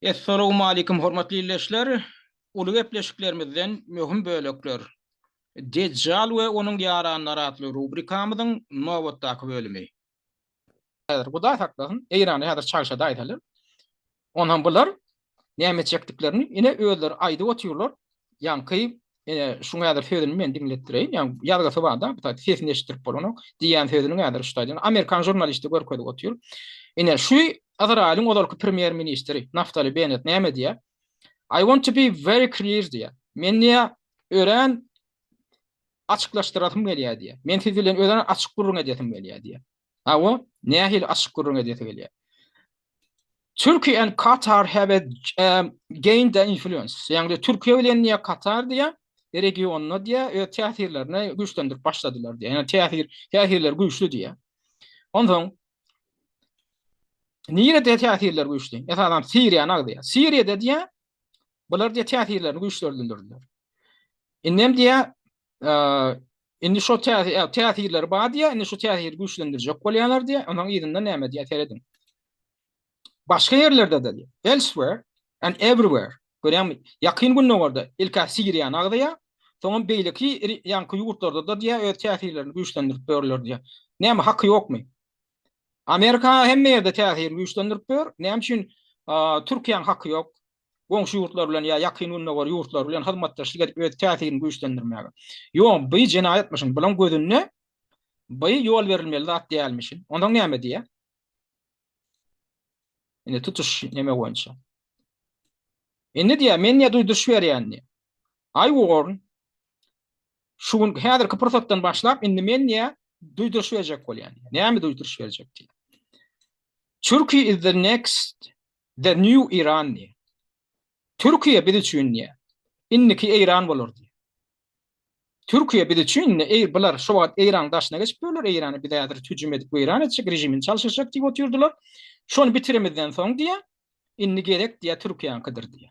Essalawmalikim hormatly ildeşler! Uly gepleşiklerimizden möhüm bölekler. Dejjal we onuň ýaranlary atly rubrikamyzyň nobatdaky bölümi. Häzir Hudaý saklasyn, Eýranda häzir çagşa daýzalar Onam bular näme çekdiklerini ine özleri aýdyp otyrlar. Ýaňky ine şu häzir sözüni men diňletdireýin. Ýa ýazgysy barda, bu taýda sesini eşitdirip bolanok. Diýýän sözüni häzir şu taýda amerikan žurnalisti görkezip otyr. Ine şu Izraýylyň ozalky premýer ministri Naftali Benet näme diýýär? I want to be very clear diýýär. Men diýýär, örän açyklaşdyrasym gelýär diýýär. Men siz bilen örän açyk gürrüň edesim gelýär diýýär. Hawa, nähili açyk gürrüň edesi gelýär. Turkey and Qatar have a, um, gained the influence. Ýagny Türkiýe bilen ýa Katar diýä, regionda diýä, öz täsirlerini güýçlendirip başladylar diýä. Ýagny täsir, täsirler güýçli diýä. Onsoň nirede täsirler güýçli? Esasan Siriýany agzýar. Siriýada diýä, Bular diýe täsirlerini güýçlendirdiler. Indi hem diýe indi şu täsirleri bar diýe, indi şu täsiri güýçlendirjek bolýarlar diýe, onuň ýerinde näme diýe serediň. Başga ýerlerde de diýe, elsewhere and everywhere. Görýäňmi? Ýakyn gündogarda ilka Siriýa nagdaýa, soňam beýleki ýanky ýurtlarda da diýe öz täsirlerini güýçlendirip ýörler diýe. Näme haky ýokmy? Amerika hemme ýerde täsir güýçlendirip ýör. Näme üçin Türkiýäň haky ýok? Goňşy ýurtlar bilen ýa ýakyn gündogar ýurtlary bilen hyzmatdaşlyk edip öz täsirini güýçlendirmäge. Ýok, bu jenaýatmyşyn. Bulaň gözünde bu ýol berilmeli zat dälmişin. Onsoň näme diýä? Indi tutuş näme boýunça? Indi diýä, men diýä duýduryş berýän diýä. Aý Warren, Şu gün häzirki pursatdan başlap indi men diýä duýduryş berjek bolýan. Näme duýduryş berjek diýä. Turkey is the next the new Iran diýä. Türkiýe biz üçin diýä. Indiki Eýran bolar diýä. Türkiýe biz üçin indi eý bular şu wagt Eýran daşyna geçip ýörler, Eýrany biz häzir hüjüm edip weýran etjek, režimini çalşyşjak diýip otyrdylar. Şony bitiremizden soň diýä, indi gerek diýä Türkiýäňkidir diýä.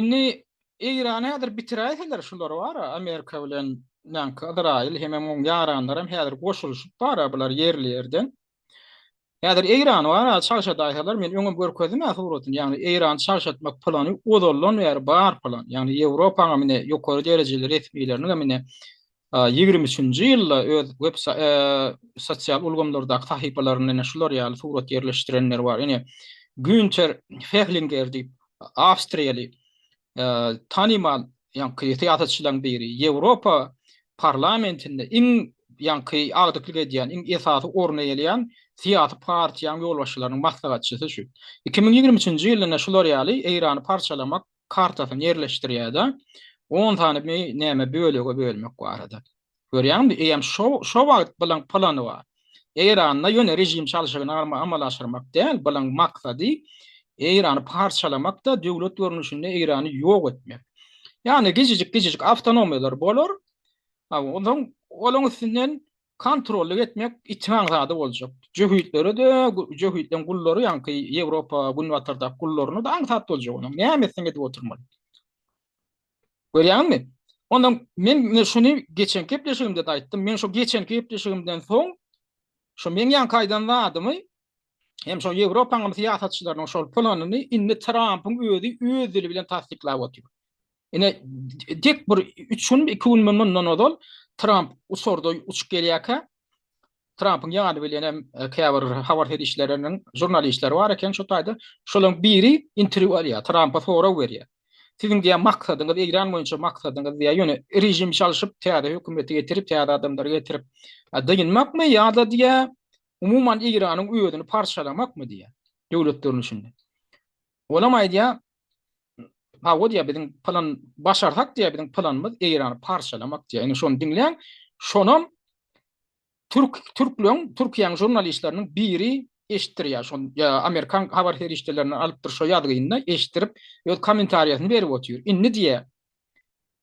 Indi Eýran häzir bitiräýseler şular bara Amerika bilen näki Yzraýyl hemem oň ýaranlaram häzir goşulyşyp bara bular ýerli ýerden. Häzir Eýran bara çagşadaýsalar men öňem görkezdim ä suratyny ýagny Eýran çagşatmak plany ozaldan bäri bar plan ýagny Ýewropaň hem ine ýokary derejeli resmileriniň hem ine ýigrimi üçünji ýylda öz web sosial ulgamlardaky sahypalarynda ine şular ýaly surat ýerleşdirenleri bar. Ine Günter Fehlinger diýip, awstriýaly tanymal ýaňky syýasatçylaryň biri, Ýewropa parlamentinde iň ýaňky agdyklyk edýän, iň esasy orny eýeleýän syýasy partiýanyň ýolbaşçylarynyň maslahatçysy şu. Iki müň ýigrimi üçünji ýylda ine şular ýaly Eýrany parçalamak kartasyny ýerleşdirýärde on sany mi näme bölege bölmek barada. Görýäňmi, eýem şo şo wagt bilen plany bar. Eýranda ýöne režim çalşygyny amala aşyrmak däl, bilen maksady Eýrany parçalamakda döwlet görnüşinde Eýrany ýok etmek. Ýagny gijijik-gijijik awtonomiýalar bolar. Onsoň olaň üstünden Kontrollyk etmek itimaň zady boljak. Jöhitlere-de, jöhitleň gullary ýaňky Ýewropa, Günbatardaky gullaryna-da aňsat boljak onuň. Näme etseň edip oturmaly. Görýäňmi? Onda men şuny geçenki gepleşigimde-de aýtdym. Men şu geçenki gepleşigimden soň, şu meň ýaňky aýdan zadymy Hem şol Ýewropanyň syýasatçylarynyň şol planyny indi Trampyň özi öz dili bilen tassyklap otyr. Ine tek bir 3 gün 2 gün mundan ozal Tramp uçarda uçup gelýärkä Trampyň ýany bilen hem e, käbir habar serişleriniň žurnalistleri bar eken şu taýda şolaryň biri interwýu alýar Trampa sorag berýär. Siziň diýen maksadyňyz Eýran boýunça maksadyňyz diýär. Ýöne režim çalşyp täze hökümeti getirip täze adamlary getirip e, dynmakmy ýa-da diýär umuman Eýranyň özüni parçalamakmy diýýär, döwlet görnüşinde. Olam aýdýar, Hawa diýýär, biziň plan başarsak diýýär, biziň planymyz Eýrany parçalamak diýýär. Indi şony diňläň, şonam türk türkleň, Türkiýäň žurnalistleriniň biri eşitdirýär. Şon amerikan habar serişdelerinden alypdyr şo ýazgyny eşitdirip, öz kommentariýasyny berip otyr. Indi diýýär,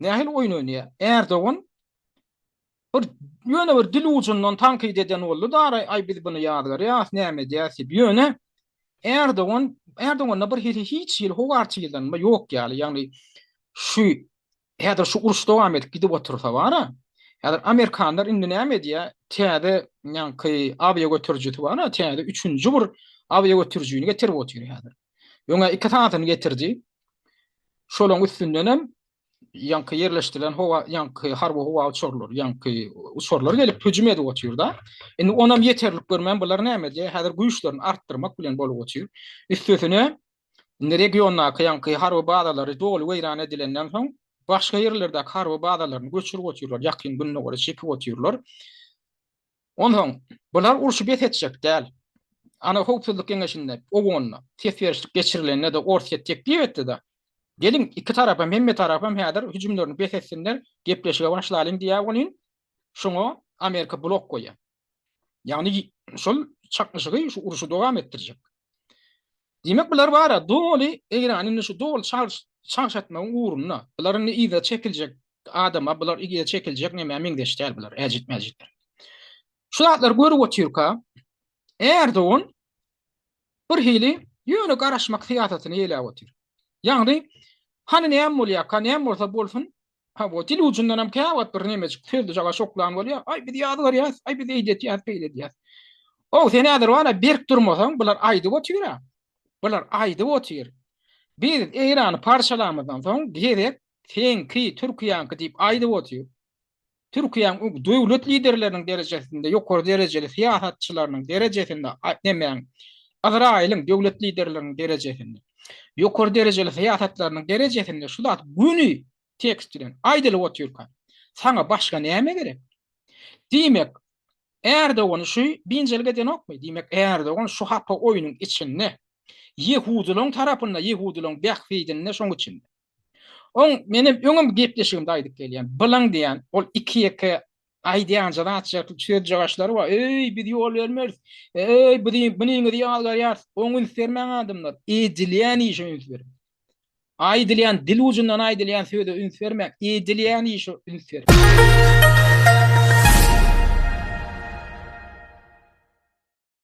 Nähili oýun oýnaýar? Erdogan bir ýöne bir dil ujundan tankyt eden boldy da, aý biz buny ýazgarýas, näme edýäs diýip. Ýöne Erdogan, Erdoganda bir hili hiç hili howarçylanma ýok ýaly. Ýagny şu häzir şu uruş dowam edip gidip otursa bara, häzir amerikanlar indi näme edýär? Täze ýaňky awiagötürijisi bar, täze üçünji bir awiagötürijini getirip otyr häzir. Öňe iki sanysyny getirdi. Şolaryň üstünden hem ýaňky ýerleşdirilen howa ýaňky harby howa uçarlar, ýaňky uçarlar gelip hüjüm edip otyrda. Indi onam ýeterlik görmän bular näme diýe? Häzir güýçlerini artdyrmak bilen bolup otyr. Üstesine indi regiondaky ýaňky harby bazalary doly weýran edilenden soň başga ýerlerdäki harby bazalaryny göçürip otyrlar, ýakyn gündogara çekip otyrlar. Onsoň, bular urşy bes etjek däl. Ana howpsuzlyk geňeşinde, OON-da, ses berişlik geçirilende-de Orsýet teklip etdi-de, Geliň, iki tarapam, hemme tarapam häzir hüjümlerini bes etsinler, gepleşige başlalyň diýýär welin, şoňa Amerika blok goýýar. Ýagny, şol çaknyşygy, şu urşy dowam etdirjek. Diýmek, bular bara doly, Eýrany indi şu doly çalş, çalşatmagyň ugrunda. Bular indi yza çekiljek adama, bular yza çekiljek nämä meňzeş däl bular, äjit-mäjitler. Şu zatlary görüp otyrka, Erdogan bir hili ýöne garaşmak syýasatyny eýläp otyr. Ýagny, hany näme bolýarka, näme bolsa bolsun, Ha bu dil ucundan hem käwagt bir nemejik sözde jaga şoklan bolýar. Ay biz ýaz görýäs, ay biz eýdi etýäs, beýle edýäs. O sen häzir wala berk durmasaň, bular aýdyp otyr ha. Bular aýdyp otyr. Biz Eýrany parçalamazdan soň gezek seňki, Türkiýäňki diýip aýdyp otyr. Türkiýäň döwlet liderleriniň derejesinde, ýokary derejeli syýasatçylarynyň derejesinde, demäň, Izraýylyň döwlet liderleriniň derejesinde. Ýokary derejeli syýasatlarynyň derejesinde şu zat göni tekst bilen aýdylyp otyrka, saňa başga näme gerek? Diýmek, Erdogany şu binjelik edenokmy? Diýmek, Erdogan şu hapa oýnuň içinde, ýehudylaryň tarapynda, ýehudylaryň bähbidinde, şoň üçin. Oň men hem öňem gepleşigimde aýdyp gelýän. Bylaň diýen ol iki ýeke aýdýan zat şertli söz jagaşlary bar. Öý biz ýol bermeris. Öý biz buniňizi ýazgarýarys. Oň üns bermäň adamlar. Edilýän işe üns beriň. Aýdylýan dil ujundan aýdylýan söze üns bermäň. Edilýän işe üns beriň.